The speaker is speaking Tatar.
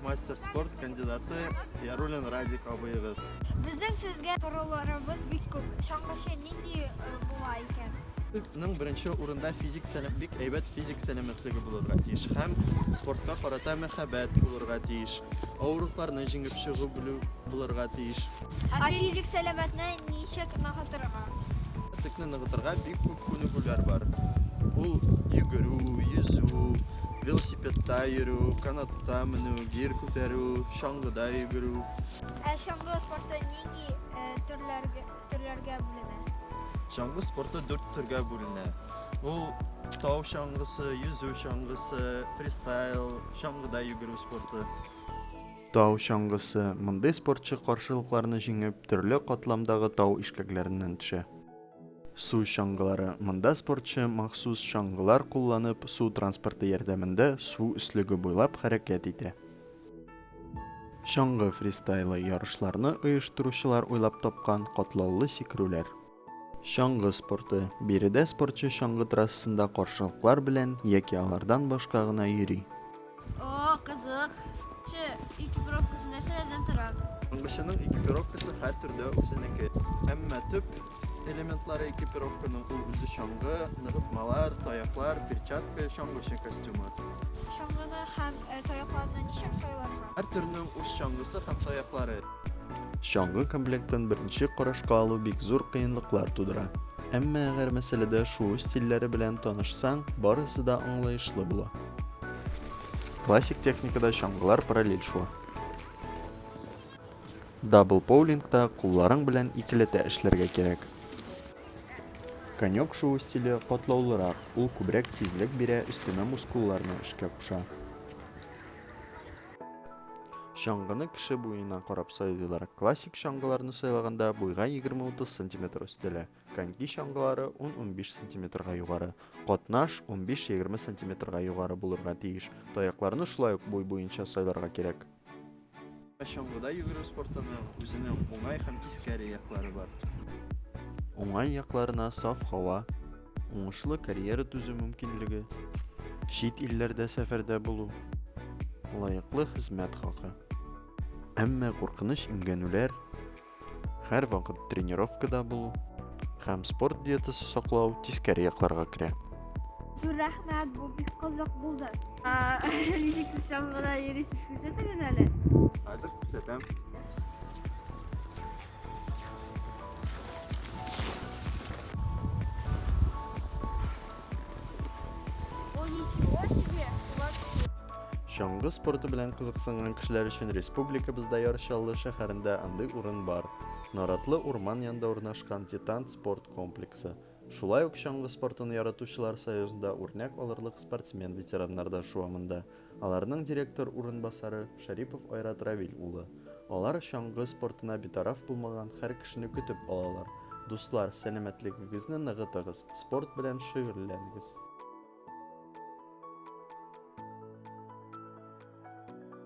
Мастер спорт кандидаты Ярулин Радик абыегыз. Безнең сезгә сорауларыбыз бик күп. Чаңгычы нинди э, була икән? Ның беренче урында физик сәләм бик әйбәт физик сәламәтлеге булырга тиеш һәм спортка карата мәхәббәт булырга тиеш. Авырлыкларны җиңеп чыгу белү булырга тиеш. Ә физик сәламәтне ничек ныгытырга? Текне ныгытырга бик күп күнегүләр бар. Ул йөгерү, йөзү, Велосипедта йөрү, канатта менү, гир күтәрү, чаңгыда йөгерү. Ә чаңгы спорты нинди э, төрләргә төрләргә бүленә? Чаңгы спорты дүрт төргә бүленә. Ул тау чаңгысы, йөзү чаңгысы, фристайл, чаңгыда йөгерү спорты. Тау чаңгысы. Мондый спортчы каршылыкларны җиңеп, төрле катламдагы тау ишкәкләреннән төшә. Су чаңгылары, монда спортчы махсус чаңгылар кулланып, су транспорты ярдәмендә су өслеге буйлап хәрәкәт итә. Чаңгы фристайлы ярышларны оештыручылар уйлап тапкан катлаулы сикерүләр. Чаңгы спорты, биредә спортчы чаңгы трассасында каршылыклар белән яки алардан башка гына йөри. О, кызык. Че, экипировкасы нәрсәләрдән тора? Аңгышының экипировкасы һәр төрле үзенеке. Әмма төп элементлары экипировканың ул үзе чаңгы, ныгытмалар, таяклар, перчатка, чаңгычы костюмы. Чаңгыны һәм э, таякларны ничек сайларга? Һәр төрнең үз чаңгысы һәм таяклары. Чаңгы комплектын беренче карашка алу бик зур кыенлыклар тудыра. Әмма әгәр мәсьәләдә шуу стильләре белән танышсаң, барысы да аңлаешлы була. Классик техникада чаңгылар параллель шуа. Дабл поулингта кулларың белән икеләтә эшләргә кирәк. Конек шуу стиле катлаулырак, ул күбрәк тизлек бирә, өстәмә мускулларны эшкә куша. Чаңгыны кеше буена карап сайлыйлар. Классик чаңгыларны сайлаганда буйга 20-30 см өстәлә. Коньки чаңгылары 10-15 сантиметрга югары, катнаш 15-20 сантиметрга югары булырга тиеш. Таякларны шулай ук буй буенча сайларга кирәк. Чаңгыда йөгерү спортының үзенең уңай һәм тискәре яклары бар. Уңай якларына саф һава, уңышлы карьера төзү мөмкинлеге, чит илләрдә сәфәрдә булу, лаеклы хезмәт хакы. Әмма куркыныч имгәнүләр Һәрвакыт тренировкада булу һәм спорт диетасы саклау тискәре якларга керә. Зур рәхмәт, бу бик кызык булды. Ничек сез чаңгыда йөрисез, күрсәтегез әле. Хәзер күрсәтәм. Чаңгы спорты белән кызыксынган кешеләр өчен республикабызда Яр Чаллы шәһәрендә андый урын бар. Наратлы урман янында урнашкан Титан спорт комплексы. Шулай ук чаңгы спортын яратучылар союзында үрнәк алырлык спортсмен-ветераннар да шуа монда. Аларның директор урынбасары, Шәрипов Айрат Равил улы. Алар чаңгы спортына битараф булмаган һәр кешене көтеп алалар. Дуслар, сәламәтлегегезне ныгытыгыз, спорт белән шөгыльләнегез!